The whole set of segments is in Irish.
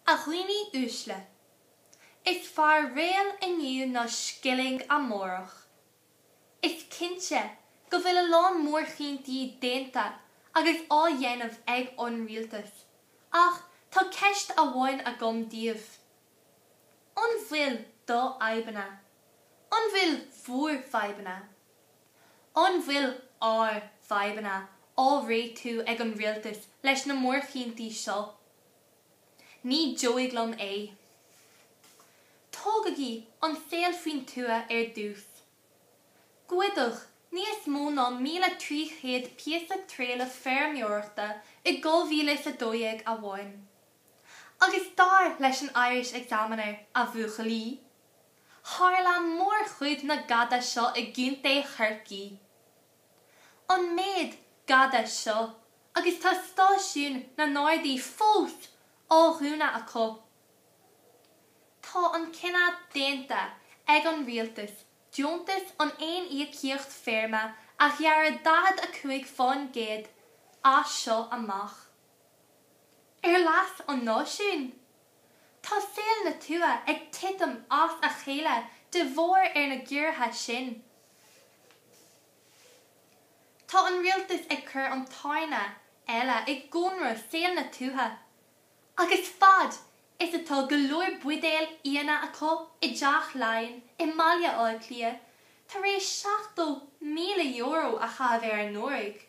A dhaoine uaisle. Is fearr réal inniu ná scilling amárach. Is cinnte go bhfuil a lán mórchinntí déanta agus á dhéanamh ag an Rialtas, ach tá ceist amháin agam daoibh. An bhfuil do fhadhbanna? An bhfuil bhúr bhfadhbanna? An bhfuil ár bhfadhbanna á réitiú ag an rialtas leis na mórchinntí seo? Ní dóigh liom é. Tógaigí an saol faoin tuath ar dtús. Goideadh níos mó ná míle trí chéad píosa trealaimh feirmeoireachta i dhá mhíle is a dó dhéag amháin. Agus dar leis an Irish Examiner, a bhuachaillí! Tharla mórchuid na gada seo i gContae Chorcaí. An méid gada seo agus tá stáisiúin na nGardaí fós á dhúnadh acu. Tá an cinneadh déanta ag an rialtas deontas an aon íocaíocht feirme a ghearradh 45% as seo amach. Ar leas an náisiúin? Tá saol na tuaithe ag titim as a chéile de bharr ar na gciorruithe sin. Tá an rialtas ag cur an tairne eile i gcónra saol na tuaithe agus fad is atá go leor buidéil fhíona acu i dTeach Laighean i mBaile Átha Cliath tar éis €70,000 a chaitheamh ar anuraidh,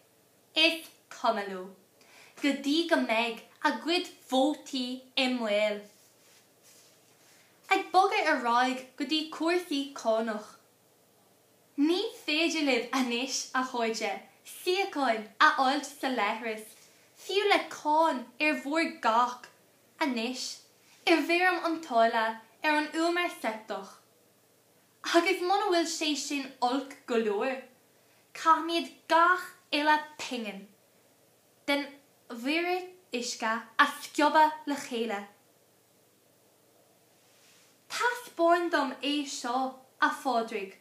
Is cuma leo, go dtí go mbeidh a gcuid vótaí i mbaol. Ag bogadh ar aghaidh go dtí cúrsaí cánach. Ní féidir libh anois, a chairde, síocháin a fháilt sa leithreas, fiú le cáin ar bhur gcac, anois, i bhfoirm an táille ar an umar seipteach. Agus muna bhfuil sé sin olc go leor, caithfimid gach uile pingin den mhuirear uisce a scríobadh le chéile. Taispeáin dom é seo, a Phádraig.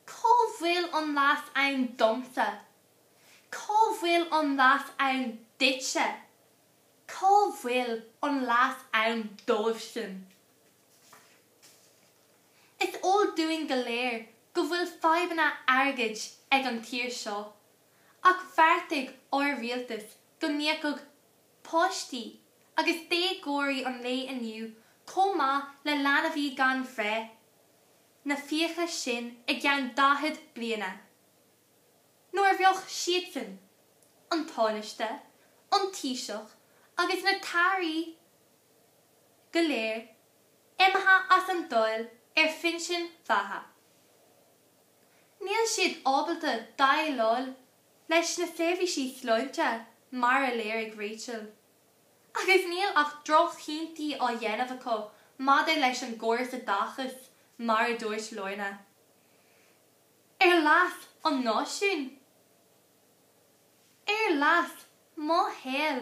Cá bhfuil an leas ann domsa? Cá bhfuil an leas ann duitse? Cá bhfuil an leas ann dóibh sin? Is eol dúinn go léir go bhfuil fadhbanna airgid ag an tír seo, ach bheartaigh ár rialtas go n-íocfadh páistí agus déagóirí an lae inniu chomh maith le leanaí gan bhreith, na fiacha sin i gceann 40 bliana. Nuair a bheadh siadsan, an Tánaiste, an Taoiseach agus na tAirí, go léir imithe as an Dáil ar phinsin mhéithe. Níl siad ábalta déileáil leis na seirbhísí sláinte mar a léirigh Rachel agus níl ach drochchinntí á ndéanamh acu maidir leis an gcóras oideachais mar a dúirt Lorna. Ar leas an náisiúin? Ar leas mo shaoil?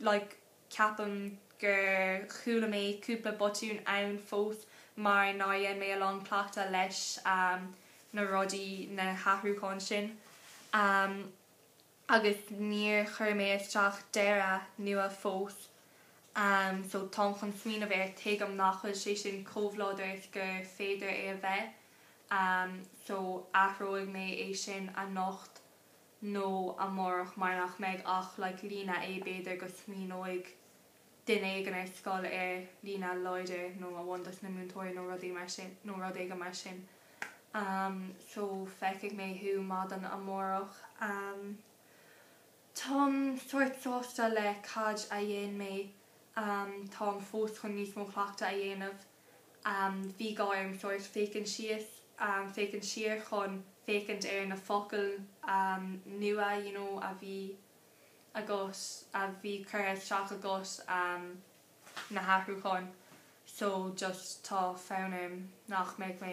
like ceapaim gur chuala mé cúpla botún ann fós mar nár dhein mé a lán cleachtadh leis na rudaí, na hathrúcháin sin agus níor chuir mé isteach deireadh nua fós so táim chun smaoineamh air, tuigim nach bhfuil sé sin chomh láidir is gur féidir leis a bheith so athróidh mé é sin anocht. nó amárach mar nach mbeidh ach like líne é. B'fhéidir go smaoineoidh duine éigin inár scoil ar líne láidir nó amháin dos na múinteoirí nó rud éigin mar sin ehm so feicfidh mé thú maidin amárach ehm táim sórt sásta le cad a dhein mé ehm táim fós chun níos mó cleachtadh a dhéanamh. Bhí gá orm sórt féachaint síos, féachaint siar chun féachaint ar na focail nua you know a bhí agam, a bhí curtha isteach agam, na hathrúcháin. So just tá fonn orm nach mbeidh mé.